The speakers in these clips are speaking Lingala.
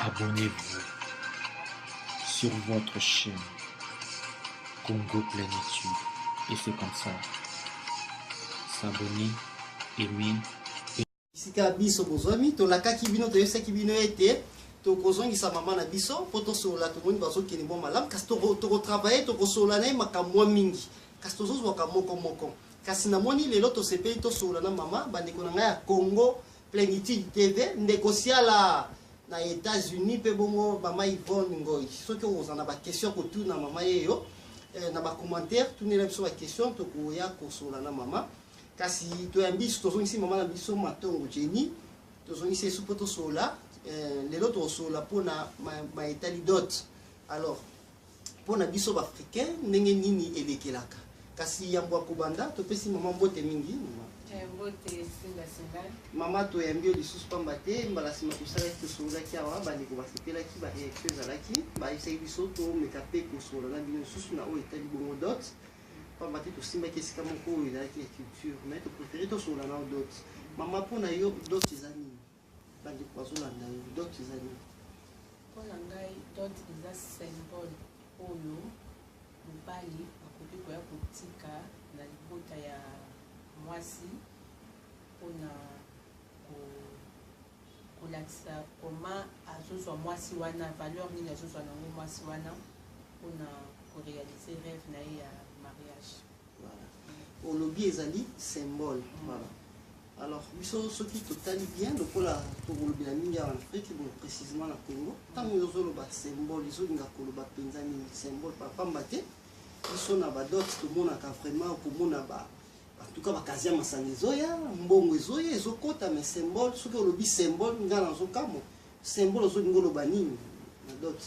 Abonnez-vous sur votre chaîne Congo Plénitude et c'est comme ça. S'abonner, aimer. Sika biso bozwami tolakaki bino toyebisaki bino ete tokozongisa mama na biso mpo tosolola tomoni bazokende mwa malamu kasi tokotravaille tokosolola na ye makambo mwa mingi kasi tozozwaka moko moko Kasi na moni lelo tosepeli tosolola na mama bandeko na ngai ya Congo Plenitude TV ndeko Siala na Etats-Unis mpe bongo mama Yvonne Ngoy soki oza na ba question kotuna mama yeyo eh, na ba commentaire tunela biso ba question tokoya kosolola na mama kasi toyambi tozongisi mama na biso matongo Jenny tozongisi esu mpo tosolola eh, lelo tokosolola mpo na ma, ma etali dot alors mpo na biso baafricain ndenge nini elekelaka kasi yambo ya kobanda topesi mama mbote mingi mama toyambi yo lisusu pamba te mbala nsima tosalaki tosongolaki awa bandeko basepelaki bareaction ezalaki bayebisaki biso tomeka mpe kosongola na bino lisusu na oyo etali bongo dot pamba te tosimbaki esika moko oyo ezalaki ya culture mai topréféré tosongola nao dot mama mpo na yo dot eza nini bandeko bazolanda yo dot eza nini mpo na ngai dot eza symbole oyo mobali akoki koya kotika na libota ya mwasi mpo na kolakisa koma azozwa mwasi wana valeur nini azozwa nango mwasi wana mpo na korealize rêve na ye ya mariage olobi ezali symbole voilà alors biso soki totali bien lokola tokolobela mingi awa na afrique bon précisément na congo ntango ozoloba symbole ezolinga koloba mpenza nini symbole papamba te biso na badote tomonaka vraiment komona ba en tout cas bakazia masanga ezoya mbongo ezoya ezokota mais symbole soki olobi symbole ngai nazokamwa symbole ozolinga oloba nini na dote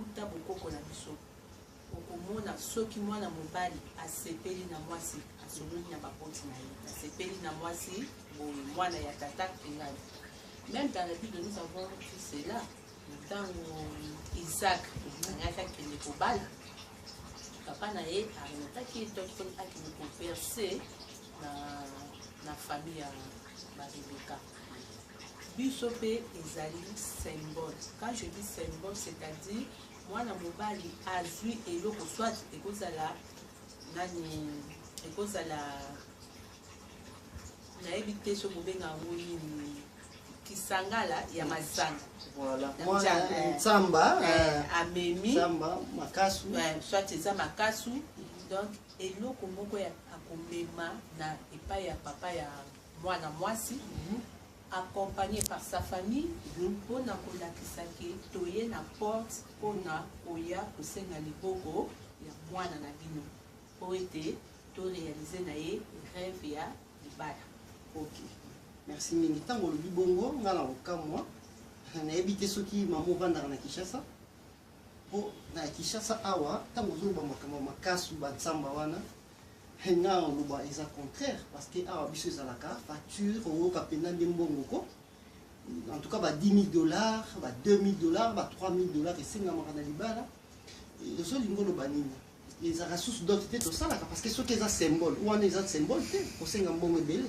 Uta bokoko na biso, okomona soki mwana mobali asepeli na mwasi, asololi na baboti na ye, asepeli na mwasi boye, mwana ya tata ngai. Meme dans la Bible, nous avons vu cela ntango Isaac angaki akende kobala papa na ye aremetaki ye to mponi akende koverse na, na famille ya barebeka biso mpe ezali symbole quand je dis symbole c'est à dire mwana mobali azwi eloko soit ekozala nani ekozala nayebi te so bobenga yango nini kisangala ya mazanga nsamba eh, eh, amemi makasu eh, soit eza makasu donc eloko moko ya akomema na epai ya papa ya Mwana mwasi accompagné par sa famille mpo na kolakisa ke toye na porte mpo na koya kosenga liboko ya mwana na bino mpo ete to réaliser na ye rêve ya libala ok merci mingi ntango olobi bongo ngai na kokamwa nayebi te soki mama ovandaka na kinshasa mpo na kinshasa awa ntango ozoloba makambo makasi bansamba wana He nga oloba eza contraire parce que awa biso ezalaka facture oyoka mpenza nde mbongo ko en tout cas ba 10 000 dollars ba 2 000 dollars ba 3 000 dollars esengamaka na libala ozolinga oloba nini ezalaka susu dote te tosalaka parce que soki eza symbole wana eza symbole te kosenga mbongo ebele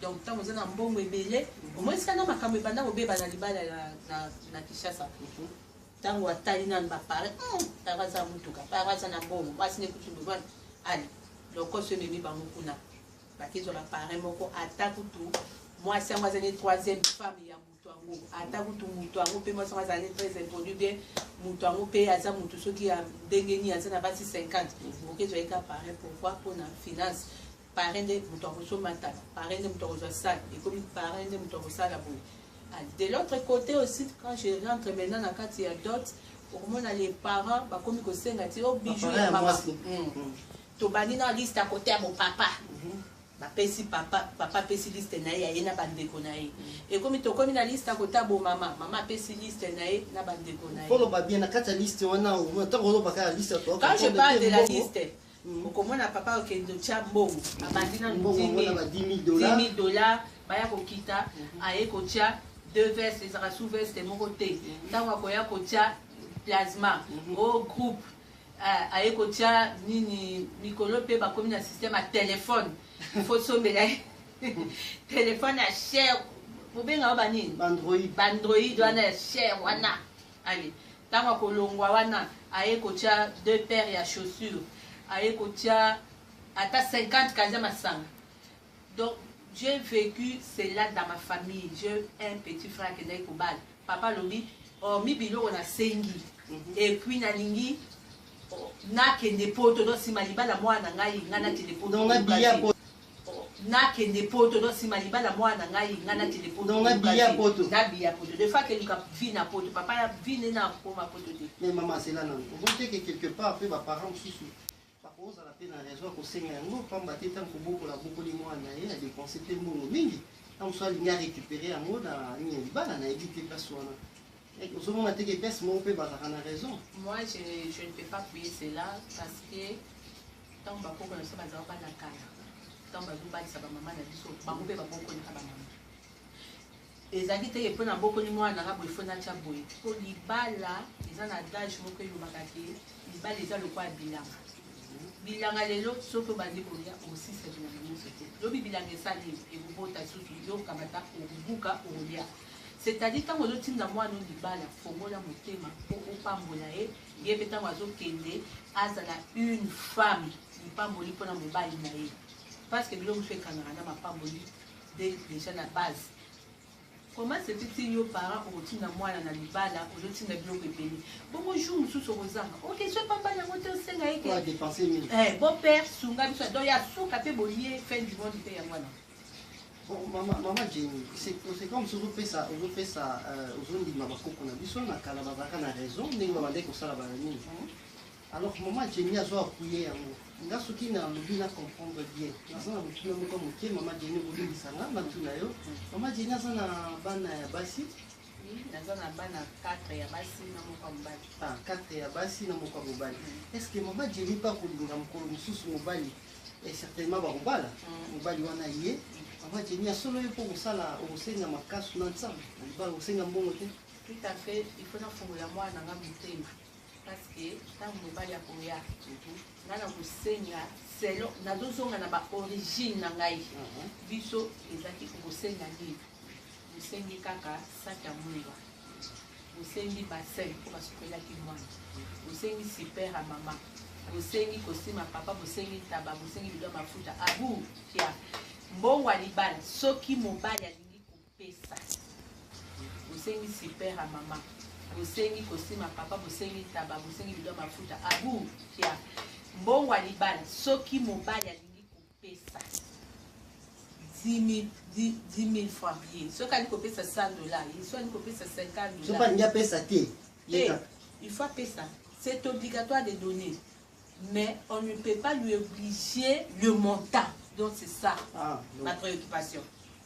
Donc ntango oza na mbongo ebele mhm. omonisika na makambo ebanda kobeba na libala na kinshasa mhm. ntango atali nanu bapare hmm, pare aza motuka pare aza na mbongo mwasi nekutumbivani ale lokoso ememi bango kuna bakezwa bapare moko ata kutu mwasi yango azali troisième femme ya ata kutu moto yango mpe mwasi yango azalaki très impoli bien moto yango mpe aza moto soki ya ndenge nini aza na basi 50 okoki ezwaki ka parin pourkoi mpo na finance parin nde moto akosomba ntaka parin nde moto akozwa sale ekomi parin nde moto akosala boye ah, de l'autre côté aussi quand je rentre maintenant na kati ya dot okomona les parents bakomi kosenga ti o oh, bijou ya mama hmm. hmm. tobandi na liste ya kote ya mopapa mhm. Bapesi papa, papa apesi liste na ye ya ye na bandeko na ye. Ekomi tokomi na liste ya kota bo mama, mama apesi liste na ye na bandeko na ye. Koloba bien na kati ya liste wana omona ntango oloba kaka liste ya Quand je parle de la liste, mm. okomona papa okende otya mbongo, abandi na 10 000 dollars, baya kokita, mm-hmm. aye kotya deux vestes ezalaka sous veste moko te, mm-hmm. ntango akoya kotya plasma mm-hmm. o oh, groupe Eh, aye kotia nini mikolo mpe bakomi na système ya telefone ifo sombela ye telefone ya cher bobenga yo banini bandroid wana ya cher wana ale ntango akolongwa wana aye kotia deux paire ya chaussure aye kotia ata 50 kaza masanga Donc j'ai vecu cela dans ma famille. J'ai un petit frère qui est kobal. Papa lobi, oh mi biloko na sengi. Et puis na lingi nakende poto donc sima libala mwana na ngai ngai nakende poto nakende poto donc sima libala mwana na ngai ngai nakende poto nabiya poto de fois keluka vi na poto papa ya vi nde nakoma poto te mais mama asela nano okoki teke quelque part mpe baparent mosusu Akozala mpe na raison ya kosenga yango pamba te ntango kobokola abokoli mwana na ye adepense mpe mbongo mingi ntango mosusu alingi arecupere yango na nini libala na yebi te place wana ozomona te ke place moko mpe bazalaka na raison moi je, je ne peux pas payer cela parce que ntango bakoko na biso bazalaka bana kala ntango bazobalisa bamama na biso bango mpe babokolaka bamama ezalaki te ke mpo nabokoli mwana na nga boye fo natya boye mpo libala eza na adage moko elobaka ke libala eza lokola bilanga bilanga lelo soki obandi kolia osisa bilanga nyonso te lobi bilanga esali ekobota susu yo okamata obuka olia c'est-à-dire ntango ozotinda mwana o libala fongola motema mpo opambola ye ye mpe ntango azokende azala une femme lipamboli mpo na mobali na ye parce que biloko mosusu ekangaka na mapamboli de, deja na base comment se fait-il yo parent okotinda mwana na libala ozotinda biloko ebele bongo jour mosusu okozanga okesio pamba yango te osenga eke eh, bon père sunga biso donc ya suka mpe boye fin du monde mpe yango wana mama jeni c'est comme si ozopesa ozopesa ozondima bakoko na biso na kala bazalaka na raison ndenge babandaki kosala bana nini Alors maman Jenny azo appuyer yango. Nga soki na lobi na comprendre bien. Naza na motuna moko moke maman Jenny olimbisa nga na tuna yo. Maman Jenny aza na bana ya basi. Naza na bana 4 ya basi na moko ya mobali. Ah, 4 ya basi na moko ya mobali. Mm. Est-ce que maman Jenny pa kolinga mokolo mosusu mobali? Et certainement bakobala. Mm. Mobali wana ye. Maman Jenny asolo ye mpo kosala okosenga makasi na nsambo. Okosenga mbongo te. Tout à fait, il faut nafungola mwana na nga motema. parceke ntango mobali akoya ngai nakosenga selon nazozonga na baorigine na ngai mhm. biso ezalaki kokosenga nini bosengi kaka saki ya mwinga bosengi basin mpo basukolaki mwana bosengi super ya mama bosengi kosima papa bosengi ntaba bosengi bido ya mafuta abu kia mbongo ya libala soki mobali pesa bosengi super ya mama bosengi kosima papa bosengi ntaba bosengi bido mafuta abu ya mbongo ya libala soki mobali alingi kopesa 10 francs ye soki alingi kopesa 100 dollar ye soki alingi kopesa 50 dollar soki alingi apesa te il faut apesa c'est obligatoire de donner mais on ne peut pas lui obliger le montant. Donc c'est ça ah, ma préoccupation.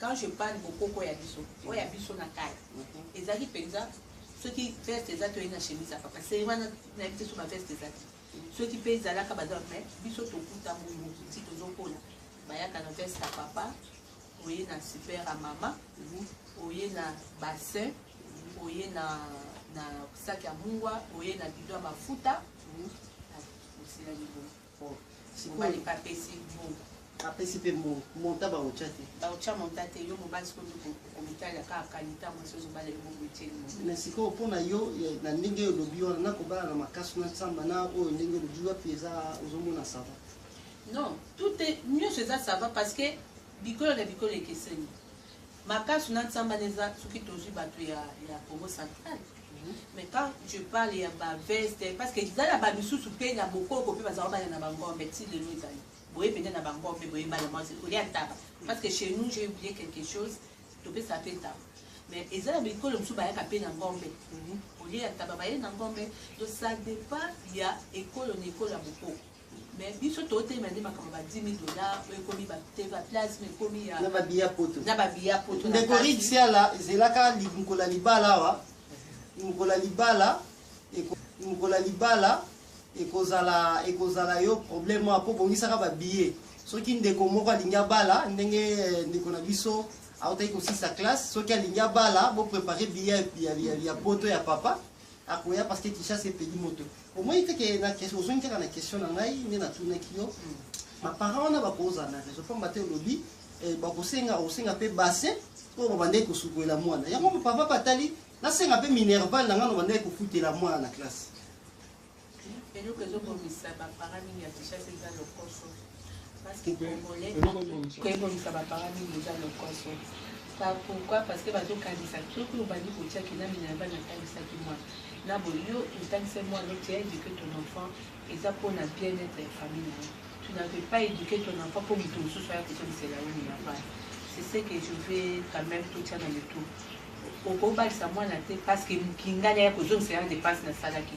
Quand je parle bokoko ya biso, oyo ya biso na kala. Ezalaki penza soki veste eza toyei na chemise ya papa. C'est wana na biso soki ba veste ezalaki. Soki pe ezalaka baza mais biso tokuta bongo ti tozokola. Bayaka na veste ya papa, oye na super ya mama, oye na bassin, oye na na sac ya mungwa, oye na bidon ya mafuta. Osila libongo. mobali mpe apesi mbongo apesi mpe mbongo monta baotya te baotya monta te yo mobali sikoyo nde komitalela kaka kani ntango esi ozobala yo bongo etyeli na sikoyo mpo na yo na ndenge oyo olobi wana nakobala na makasi na nsamba na oyo ndenge olobi wapi eza ozomona sava non tout nyonso eza sava parce que bikolo na bikolo ekeseni Makasu na nsamba neza soki tozwi bato ya, ya Congo central mhm. mais quand je parle ya ba veste parce que ezala ba misusu mpe na bokoko mpe bazala bana na bangombe ti lelo ezali boye mpenza na bangombe boye bana mwasi olia ntaba parce que chez nous j'ai oublié quelque chose topesa mpe ntaba mais eza na bikolo mosusu bayaka mpe na ngombe mhm. olie ya ntaba baye na ngombe donc ça dépend ya ekolo na ekolo ya bokoko mais biso totelema nde makambo ba 10 000 dollars oyo ekomi baplasme ekomi na babiya poto na babiya poto ndeko rik siala ezelaka mokolo ya libala awa mokolo ya libala mokolo ya libala ekozala ekozala yo problème awa mpo bongisaka babiye soki ndeko moko alingi abala ndenge eh, ndeko na biso autaki kosisa classe soki alingi abala boprépare biye ya poto ya papa akoya parce que Kinshasa epeli moto omoni te ke na question ozongi kaka na question na ngai nde natunaki yo baparent hmm. wana bakozala na raison mpamba te olobi eh, bakosenga osenga mpe bassin oyo babandaki kosukolela mwana yango papa batali nasenga mpe minerval na ngai nobandaki kofutela mwana na classe Eloko ezo bomisa ba parents mingi ya Kinshasa eza lokoso. Parce que congolais koye bomisa ba parents mingi eza lokoso. Par pourquoi? Parce que bazo kanisa soki obandi kotia kinami na yaba natalisaki mwana na boye yo otalisa mwana tu as éduqué ton enfant eza mpona bien-être ya famille na yo. Tu n'avais pas éduqué ton enfant mpo moto mosusu aya kozongisela yo na bana. C'est ce que je vais quand même totia na mitu. Okobalisa mwana te parce que mokingani aya kozongisela na dépense nasalaki.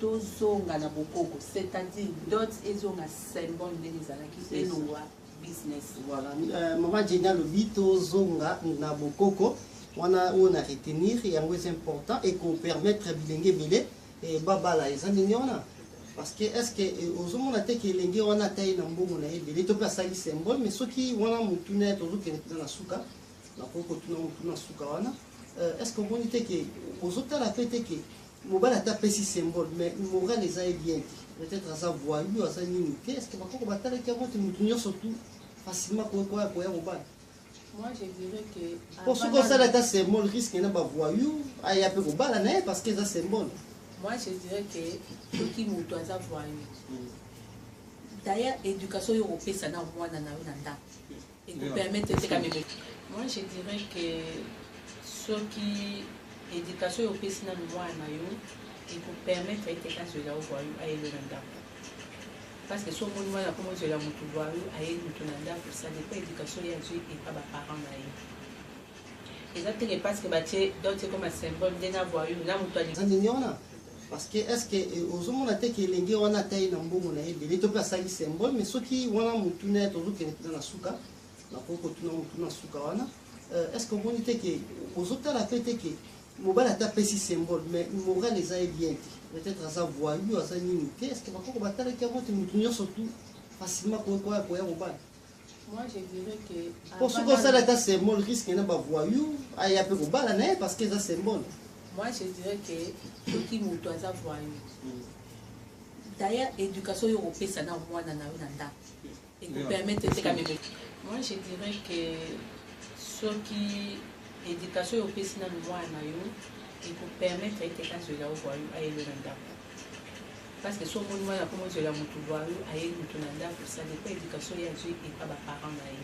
tozonga na bokoko c'est à dire dot ezonga symbole ndenge ezalaki elongwa business voilà euh, mama jeni alobi tozonga na bokoko wana oyo na retenir yango eza important ekopermettre bilenge ebele eh, babala eza ndenge wana parce que est ce que eh, ozomona te ke elenge wana atai na mbongo na ye ebele to mpe asali symbole mais soki wana motuna ya tozokende mpenza na suka nakoki kotuna motuna na suka wana euh, est ce que omoni te ke ozotala mpe te ke Mobali ata apesi symbole mais morale eza ye bien te. Peut-être aza voyou, aza nini te. Est-ce que bakoko batalaki yango te mutu nyonso tout facilement koya koya mobali? Moi je dirais que po soki osala ata symbole risque na ba voyou aya pe kobala na ye parce que eza symbole. Moi je dirais que soki mutu aza voyou. D'ailleurs éducation yo kopesa na mwana na yo na ndako. Moi, je dirais que soki éducation yo pesi na mwana na yo ekopermettre ete azwela yo voyou ayelo na ndako parce que soki omoni mwana akomi ozwela motu voyou ayeli motu na ndako ça dépend éducation ye azwi epa baparent na ye eza teke parce que batie dote ekoma symbole nde na voyou na motu alingi parce que est ce que eh, ozomona te ke elenge wana atai na mbongo na ye ebele to mpe asali symbole mais soki wana motuna ya tozokende mpenza na suka nakoki kotuna motuna suka wana euh, est ce que omoni te ke ozotala mpe te ke mobali ata apesi symbole mais moral eza ye bien te peut-être aza voyu aza nini te est ce que bakoko batalaki yango te motu nyonso tu facilement koya kobala po soki osala ata symbole risque na bavoyou aya mpe kobala na ye parce que eza symbole moi je dirais que soki moto aza voyou hmm. d'ailleurs éducation oyo okopesa na mwana na yo na ndako ekopermettre te kameme moi je dirais que soki éducation oyo opesi nanu mwana na yo ekopermettre ete azwela yo voyou ayelo na ndako parce que so omoni mwana mpo mozwela motu lwa yo aye motu na ndako ça dépend éducation ye azwi epa baparent na ye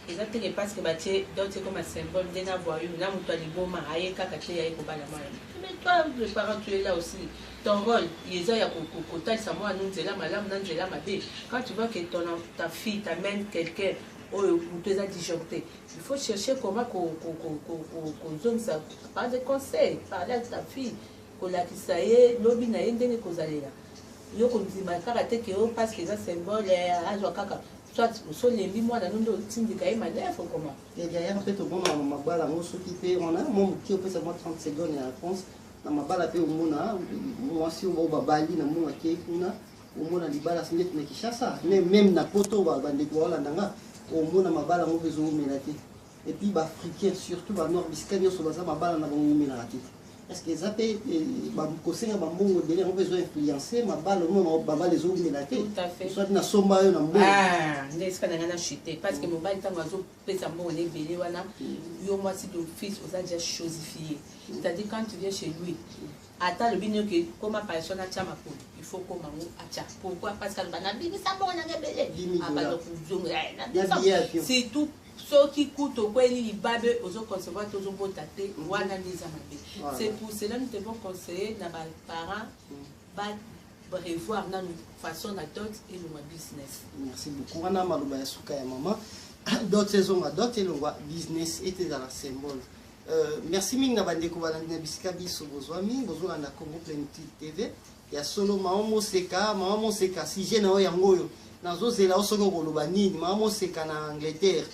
eza teke parce que batie dote comme symbole nde na voyou na motu ya liboma aye kaka te aye kobala mwana mais toi le parent tu es là aussi ton rôle eza ya kotalisa mwana no nzela malamu na nzela mabe quand tu vois que ton, ta fille t'amène quelqu'un oyo motu eza disjoncte il faut chercher comment kozongisa par des conseils parle avec ta fille kolakisa ye lobi na ye ndenge kozalela yo kondima kaka te ke yo paske eza symbole eh, azwa kaka soit osolembi mwana no nde otindika ye manefre koma ya derrière mpe tomona mabala yango soki mpe wana mo moke opesa mwa 30 seconde ya réponse na mabala mpe omona mwasi oyo babali na mona ke kuna omona libala si ndeti na kinshasa meme na poto bandeko baolanda nga omona mabala yango mpe ezoumela te et puis ba africains surtout ba nord bisika nyonso baza mabala na bango eumelaka te est ce que eza mpe kosenga bambongo ebele yango mpe ezo influence mabala omona babala ezoumela te soit nasomba yo na mbongo ah, nde esika na ngai na chute parce que mobali ntango azopesa mbongo na ebele wana mm. yo mwasi d'office oza déjà chosifie mm. c'est à dire quand tu viens chez lui ata alobi nini oke koma paration atya makolo il faut koma ngo atya pourquoi parce que aloba nabimisa mbongo na ngai ebele abanda kozonga surtout soki kutu okweli libabe ozo concevoir te ozo bota te mm. wana nde eza mabe c'est pour cela nous devons conseiller na ba parents mm. ba prévoir nanu façon na dot elongwa business merci beaucoup wana maloba ya suka ya mama dot ezonga dot elongwa business ete ezala symbole Euh, merci mingi na bandeko balandi na bisika biso bozwami bozolanda congo plenitude tv Ya solo maman Moseka, maman Moseka sujet na yo yango oyo. Nazozela yo soki okoloba nini maman Moseka na Angleterre.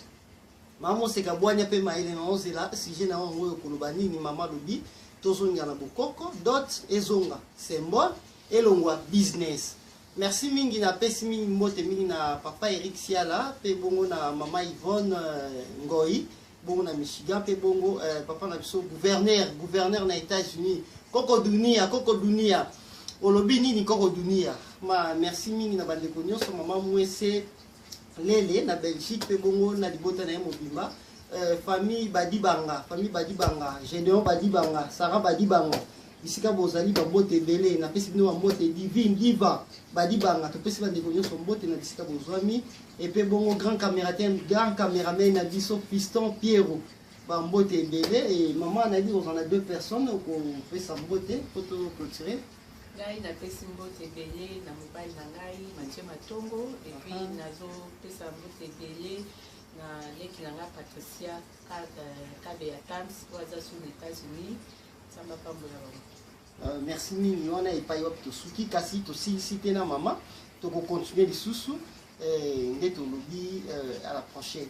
Maman Moseka bwanya mpe mayele nazozela sujet na yo yango oyo okoloba nini mama lobi tozonga na bokoko dot ezonga symbole elongwa business. Merci mingi napesi mingi mbote mingi na papa Eric Siala mpe bongo na mama Yvonne euh, Ngoi. bongo na michigan mpe bongo eh, papa na biso gouverneur gouverneur na états-unis koko dunia koko dunia olobi nini koko dunia ma merci mingi na bandeko nyonso mama mwese lele na belgique mpe bongo na libota na ye mobimba eh, famille badibanga famille badibanga gédéon badibanga sarah badibanga bisika bozali bambote ebele napesi bino bambote divine diva badibanga topesi bandeko nyonso mbote na bisika bozwami epe bongo grand cameratem grand cameraman na biso piston piero bambote ebele e mama nayebi kozala na deux personnes okopesa mbote po to clotire ngai napesi mbote ebele na mobali na ngai matie matongo epuis ah. nazopesa mbote ebele na leki na ngai patricia kabe ya tams oyo aza sur na états-unis Nzambe apambola bango. Euh, merci mingi wana epai wapi tosuki kasi tosilisi te na mama tokokontinue lisusu eh, nde tolobi euh, à la prochaine